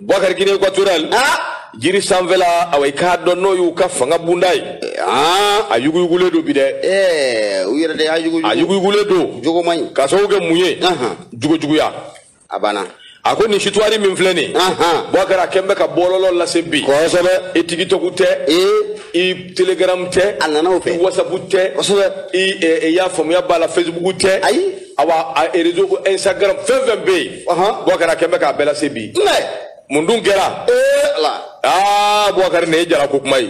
Boubacar Guinée équatoriale ah jiri sanfɛla awa i k'a dɔn n'o y'u ka fanga bunda ye ah a yuguyugulen don bi dɛ ɛɛ u yɛrɛ de y'a yuguyugu a yuguyugulen don jogo man ɲi k'a sababu kɛ mun ye jogojuguya a banna a ko nin histoire min filɛ nin Bɔkari a kɛn bɛ ka bɔlɔlɔ lase bi kosɛbɛ i TikTok tɛ i telegram tɛ a nana o fɛ i WhatsApp tɛ kosɛbɛ i y'a faamuya b'a la facebook tɛ ayi awa a réseau ko instagram fɛn fɛn bɛ yen Bɔkari a kɛn bɛ k'a bɛɛ lase bi mun dun kɛra aa bɔkari nin ye jala ko kuma ye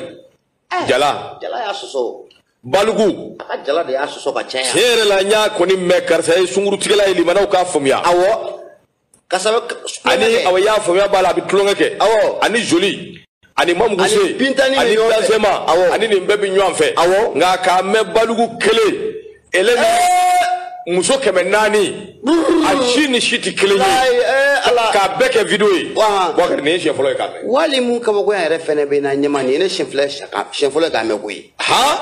eh, jala jala y'a sɔsɔ balugu a ka jala de y'a sɔsɔ ka caya tiɲɛ yɛrɛ la n y'a kɔni mɛn karisa ye sungurutigɛla ye lamɛnnaw k'a faamuya awɔ ani awa y'a faamuya b'a la a bɛ tulonkɛ kɛ ani joli ani mamuguse ani bilasema ani nin bɛɛ bɛ ɲɔgɔn fɛ nka k'a mɛn balugu kelen ele ni eh! muso kɛmɛ naani a si ni si tɛ kelen ye eh, k'a bɛɛ kɛ video ye Bakari nin ye siɲɛ fɔlɔ ye k'a mɛn wali mun kabakoya yɛrɛ fɛnɛ bɛ na ɲɛma nin ye ne siɲɛ fɔlɔ ye k'a mɛn koyi han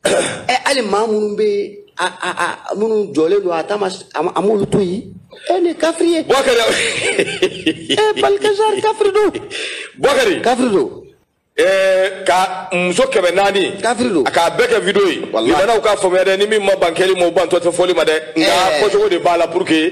ɛ hali maa minnu bɛ a a a minnu jɔlen don a taama a m'olu to yen e ni kafiri ye. bɔkari ee Baltazar kafiri don. bɔkari kafiri don. ɛɛ ka muso kɛmɛ naani. kafiri don. k'a bɛɛ kɛ video ye. walayi lamɛnnaw k'a faamuya dɛ ni min ma ban kɛli ma o bantɔ tɛ fɔli ma dɛ. nka fɔcogo de b'a la pour que.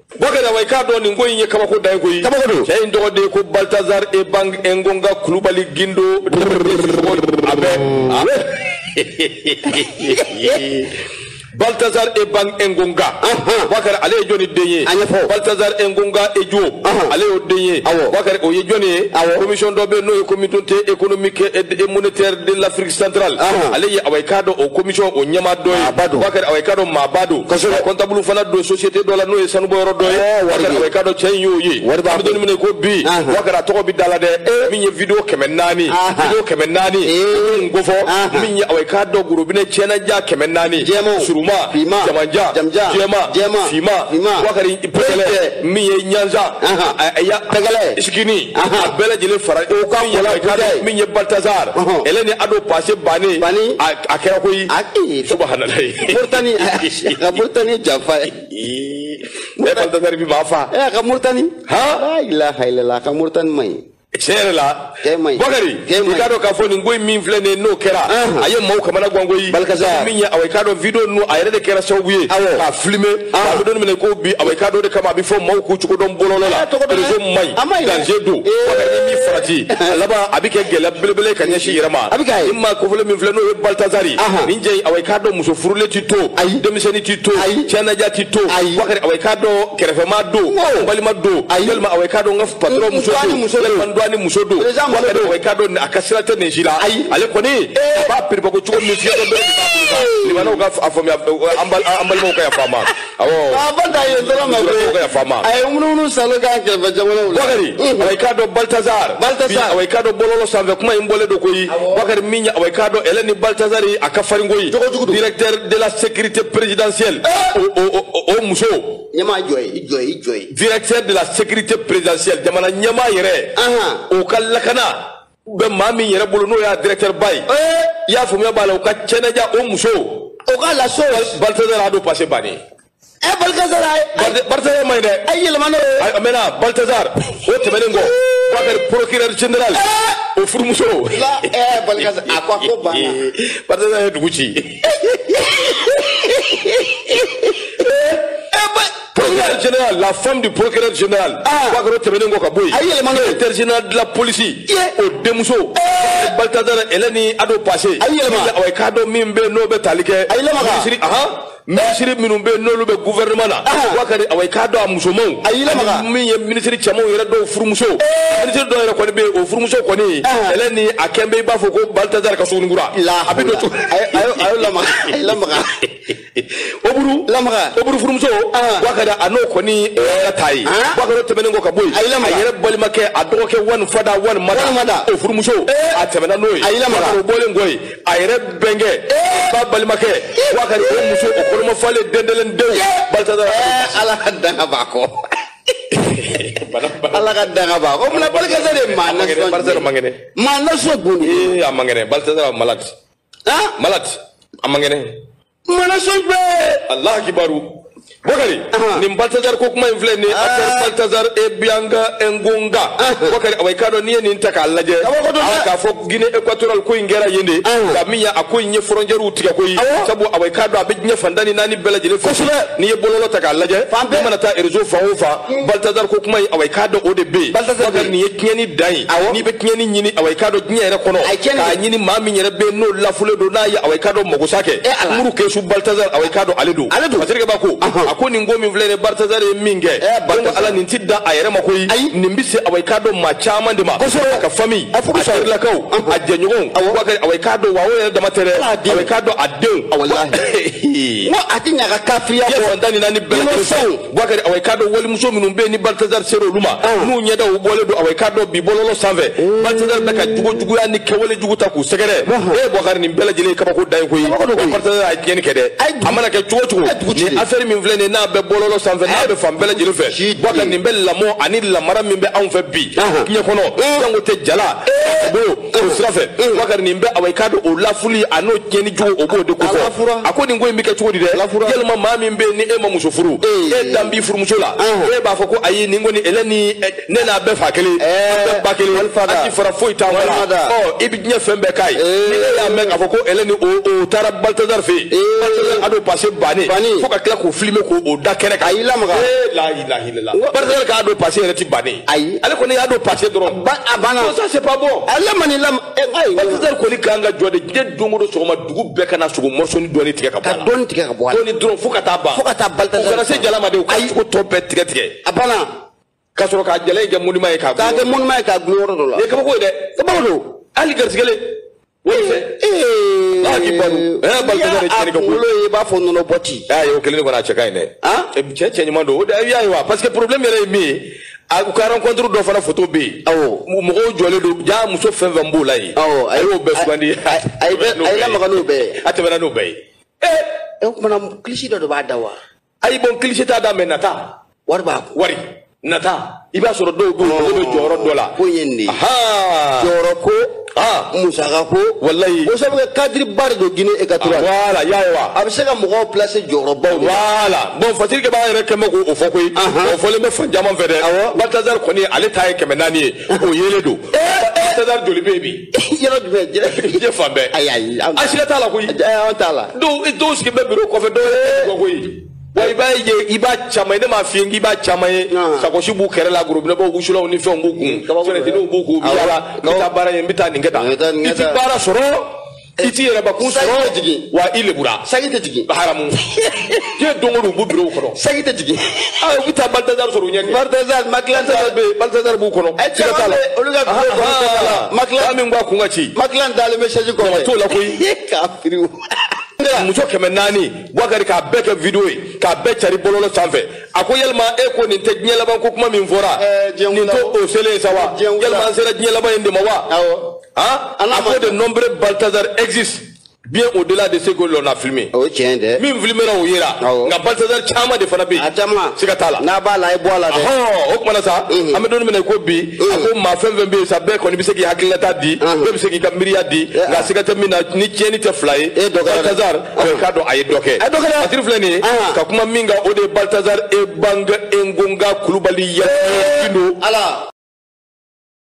Bakari awa i k'a dɔn nin ko in ye kabako de ye koyi kabako don cɛ in tɔgɔ de ye ko Baltazar Ebang Engonga Kulubali Gindo a bɛ a bɛ Baltazar Ebang Engonga Bakari ale ye jɔni den ye a ɲɛfɔ Baltazar Engonga Edjo ale y'o den ye awɔ Bakari o ye jɔni ye awɔ commission dɔ bɛ yen n'o ye communauté économique et monétaire de l'Afrique centrale Ahan. ale ye awa i k'a dɔn o commission o ɲɛmaa dɔ ye Maaba don. Bakari awa i k'a dɔn maaba don Kosɛbɛ. Ka comptable fana don société dɔ la n'o ye sanubɔyɔrɔ dɔ ye Ɛɛ, wari bakari bɛ- awa i k'a dɔn cɛ in y'o ye Wari b'a an bɛ don bolo. min na i ko bi Ahan. bakari a tɔgɔ bɛ da la dɛ min ye video kɛmɛ naani Ahan. video kɛmɛ naani Ee. n ko fɔ Ahan. min ye awa i k'a dɔn gorobinɛ cɛnaja kɛmɛ naani Jɛman. surunman Finman. jamanjan Jamanjan. jɛman Jɛman. finman Finman. bakari Bɛɛ. pɛgɛlɛ min ye ɲanza Ahan. a- a- ya- Pɛgɛlɛ. skinny a bɛɛ lajɛlen fara o kan Bakari min ye baltazar ele ni ado pase bannen bannen a kɛra koyi subahanallahi murtani ka murtani janfa ye ne baltazar bi b'a fa a ka murtani ha la ilaha illallah ka murtani man ɲi tiɲɛ yɛrɛ la cɛ man ɲi bakari i k'a dɔn k'a fɔ nin ko in min filɛ nin ye n'o kɛra a ye maaw kamana gan koyi Baltazar min ye awa i k'a dɔn video ninnu a yɛrɛ de kɛra sababu ye k'a filime an bɛ don min na i ko bi awa i k'a dɔn de kama a bɛ fɔ maaw k'u cogo dɔn bɔlɔlɔ la réseau man ɲi danger don awa ni min farati a laban a bɛ kɛ gɛlɛya belebele ka ɲɛsin yɛrɛ ma nin maa kofɔlen min filɛ n'o ye Baltazar nin ye awa i k'a dɔn muso furulen tɛ to denmisɛnnin tɛ to cɛnaja tɛ to Bakari awa i k'a dɔn kɛrɛfɛmaa don balima don walima awa i k'a dɔn n ka patron muso don muso de man dɔn ni muso don wala de awa i k'a dɔn a ka sira tɛ nin si la ayi ale kɔni a b'a piriba ko cogo min fiye dɔ balimaw ka a faamuya an balimaw ka yafa ma awɔ a ba da ye dɔrɔn an balimaw ka yafa ma a ye munumunu salo k'a kɛrɛfɛ jamanaw la bakari awa i k'a dɔn baltazar baltazar awa i k'a dɔn bɔlɔlɔ sanfɛ kuma in bɔlen don koyi bakari min awa i k'a dɔn ɛlɛ ni baltazar a ka farin koyi directeur de la sécurité présidentielle o muso ɲɛmaa jɔ ye i jɔ ye i jɔ ye. directeur de la sécurité présidentielle jamana ɲɛmaa yɛrɛ. o ka lakana bɛ maa min yɛrɛ bolo n'o y'a directeur ba ye. i y'a faamuya b'a la u ka cɛnɛja o muso. o ka laso. baltazar a don passé bannen. ɛ eh, baltazar ayi. baltazar man ɲi dɛ. a ye yɛlɛma n'o ye. a mɛnna baltazar o tɛmɛnen kɔ. k'a kɛra procureur général. Eh! o furumuso. la ɛɛ eh, baltazar a ko a ko banna. baltazar ye dugu ci. procureur général la femme du procureur général bakari o tɛmɛnen kɔ ka bɔ yen a yɛlɛmana directeur général de la police o denmuso baltazar ɛlɛ ni a don passé a yɛlɛma awa i k'a dɔn min bɛ n'o bɛ tali kɛ a yɛlɛma minisiri ahan minisiri minnu bɛ n'olu bɛ gouvernement na bakari awa i k'a dɔn a musomanw a yɛlɛma min ye minisiri cɛmanw yɛrɛ dɔw furumuso minisiri dɔw yɛrɛ kɔni bɛ yen o furumuso kɔni ɛlɛ ni a kɛn bɛ i b'a fɔ ko baltazar ka sungurun kura a bɛ don cogo a y'o lamaga a ye lamaga oburu lamaga oburu furumuso bakari a n'o kɔni ka taa ye bakari o tɛmɛnen kɔ ka bɔ yen a ye lamaga a yɛrɛ balimakɛ a dɔgɔkɛ one father one mother one mother o furumuso a tɛmɛna n'o ye a ye lamaga o bɔlen kɔ yen a yɛrɛ bɛnkɛ ba balimakɛ bakari o muso o kɔnɔma falen dendelen denw baltazar ala ka danga b'a kɔ ala ka danga b'a kɔ o fana balikɛsɛ de maa na Ma na so bon ee a man kɛnɛ baltasar malade ah malade a man kɛnɛ mana so bɛ allah kibaru bokari nin baltasar ko kuma in filɛ nin affaire baltasar ebang engonga bokari awa i k'a dɔn n'i ye nin ta k'a lajɛ a k'a fɔ guinée équatoriale ko in kɛra yen de nka min y'a a ko in ye frontiɛriw tigɛ koyi sabu awa i k'a dɔn a bɛ diɲɛ fan tan ni naani bɛɛ lajɛlen fɛ n'i ye bɔlɔlɔ ta k'a lajɛ i mana taa réseau fan o fan baltasar ko kuma in awa i k'a dɔn o de bɛ yen bokari nin ye tiɲɛni dan ye awɔ n'i bɛ tiɲɛni ɲini awa i k'a dɔn diɲɛ yɛrɛ kɔnɔ A ye tiɲɛni k'a kɛ. ɲini maa min yɛrɛ bɛ yen n'o lafulen don n'a ye awa i k'a dɔn magosa kɛ Eh, Ala. muru kesu baltazar awa i k'a dɔn ale don Ale don. masakɛ ba ko Ahan. a ko nin ko min filɛ nin ye baltazar ye min kɛ Eh, donc Balthazar. ala nin ti dan a yɛrɛ ma koyi Ayi. nin bɛ se awa i k'a dɔn maa caman de ma Kosɛbɛ. a ka famille A furu a sɔrɔ. terilakaw Ahan. a jɛɲɔgɔnw Awɔ. wa kɛ- awa i k'a dɔn wa o yɛrɛ dama tɛ dɛ Ala den. awa i k'a dɔn a denw Awɔ, lahi. n ko a ti ɲa ka kafiriya diɲɛ bɔ fan tan ni naani bɛɛ lajɛlen Innocent. Bouakari awa i k'a dɔn walimuso minnu bɛ yen ni Baltazar sera olu ma n'u ɲɛdaw bɔlen don awa i k'a dɔn bi bɔlɔlɔ sanfɛ Baltazar bɛ ka jogo juguya ni kɛwale jugu ta k'u sɛgɛrɛ e ye Bouakari nin bɛɛ lajɛlen ye kabako dan ye koyi Baltazar a ye tiɲɛni kɛ dɛ a mana kɛ cogo cogo nin affaire min filɛ nin ye n'a bɛ bɔlɔlɔ sanfɛ n'a bɛ fan bɛɛ lajɛlen fɛ Bouakari nin bɛ lamɔ ani lamara min bɛ anw fɛ bi diɲɛ kɔnɔ jango tɛ jala bolo o sira fɛ Bouakari nin bɛ awa i k'a dɔn o lafuli a n'o tiɲɛni jugu o b'o de kofɔ a ko nin ko in bɛ kɛ cogo di dɛ yalima maa min bɛ yen ni e ma muso furu e dan b'i furumuso la e b'a fɔ ko ayi nin kɔni Hélène ne n'a bɛɛ fa kelen an bɛɛ ba kelen a ti fara foyi t'an kɔ la ɔ i bɛ diɲɛ fɛn bɛɛ k'a ye ni e y'a mɛn k'a fɔ ko Hélène o o taara Baltazar fɛ yen Baltazar a n'o pase bannen fo ka tila k'o filime k'o da kɛnɛ kan a y'i lamaga illallah. N ko barisa k'a don pase yɛrɛ ti bannen. Ayi. Ale kɔni y'a don pase dɔrɔn. Ba a banna. Ko ça c'est pas bon. A lamani lam. Baltazar kɔni kan ka jɔ de diɲɛ don o don sɔgɔma dugu bɛɛ ka n'a sogo mɔsɔni dɔɔni tigɛ ka bɔ a la. Ka dɔɔni tigɛ ka bɔ a la. Dɔɔni dɔrɔn fo ka taa ban. Fo ka taa balita. U kana se jala ma de. U ka sogo tɔ bɛɛ tigɛ tigɛ. A banna. Ka sɔrɔ k'a jala in kɛ monument ye k'a gulon. K'a kɛ monument ye k'a gulon yɔrɔ dɔ la. Nin ye kabako ye dɛ. Kabako don. Hali garisigɛlen. kunkolo ye i b'a fɔ nɔnɔ bɔ ten. y'a ye o kelen de kɔni a cɛ ka ɲi dɛ. cɛ cɛ ɲuman don o de y'a ye wa parce que problème yɛrɛ ye min ye a u ka rencontre dɔ fana photo bɛ yen. awɔ mɔgɔw jɔlen don jaa muso fɛn fɛn b'o la yen. awɔ a y'o bɛɛ sugandi. a y'i lamaga n'o bɛɛ ye. a tɛmɛna n'o bɛɛ ye. ee o tumana kilisi dɔ de b'a da wa. ayi bɔn kilisi t'a da mais nata wari b'a kun wari nata i b'a sɔrɔ dɔw bɛ yen olu bɛ jɔyɔrɔ dɔ la ko in ye nin de ye Ahaa. jɔyɔrɔ ko Ah. musaka ko Walayi. ko sabu kɛ kadiriba de don Guinée équatoriale la y'a ye wa a bɛ se ka mɔgɔw placer jɔyɔrɔbaw de la wala bɔn fatigi b'a yɛrɛ kɛmɛ ko fɔ koyi o fɔlen bɛ fan caman fɛ dɛ Awɔ. baltazar kɔni ale ta ye kɛmɛ naani ye o yelen don baltazar joli bɛ yen bi yɔrɔ jumɛn diɲɛ diɲɛ fan bɛɛ. ayi ayi an an siga t'a la koyi. an t'a la. dɔw dɔw sigi bɛ biro kɔfɛ dɔw ye kɔkɔ ye. wa i b'a ye i b'a caman ye ne m'a f'i ye k'i b'a caman ye. sakosi b'u kɛrɛ la gorobinɛbaw wusulanw ni fɛnw b'u kun. fɛnɛtiniw b'u kun u bɛ yaala n bɛ taa baara ye n bɛ taa nin kɛ tan. i ti baara sɔrɔ i ti yɛrɛbakun sɔrɔ wa i lebura. sanji tɛ jigin. haramu. diɲɛ don o don u b'u birow kɔnɔ sanji tɛ jigin aa u bɛ taa baltazar sɔrɔ u ɲɛ kɛ baltazar makilan t'a la bɛ yen baltazar b'u kɔnɔ ɛ siga t'a la caman bɛ olu ka birow kɔnɔ t'a la makilan maa min b'a kun ka ci makilan dalen bɛ sɛji kɔnɔ Mɔgɔ t'o la koyi. k'a firi o. muso kɛmɛ naani buwakari k'a bɛɛ kɛ video ye k'a bɛɛ cari bɔlɔlɔ sanfɛ a ko yalima e ko nin tɛ diɲɛ laban ko kuma min fɔra Ɛɛ, diɲɛ nin wula. to o selen sa wa Diɲɛ wula. yalima an sera diɲɛ laban in de ma wa Awɔ. han An n'a a ko ma- de nombreux baltazar existent bien au-delà de ce que l'on a filmé. O ye tiɲɛ ye dɛ. Min filmera o yera. Awɔ. Nka Balthazar caman de fana bɛ yen. A caman. Siga t'a la. N'a b'a la, a y'a bɔ a la dɛ. Ahɔn o kumana sa. An bɛ don min na i ko bi. A ko maa fɛn fɛn bɛ yen sa bɛɛ kɔni bɛ se k'i hakilinata di. Bɛɛ bɛ se k'i ka miiriya di. Nka siga tɛ min na ni tiɲɛni tɛ fila ye. E dɔ kɛra dɛ. Balthazar bɛɛ k'a dɔn a ye dɔ kɛ. A dɔ kɛra. Latiri filɛ nin ye. Ka kuma min kan o de ye Balthazar Ebang Engonga Kulubali Yakubu Gindo. Ala.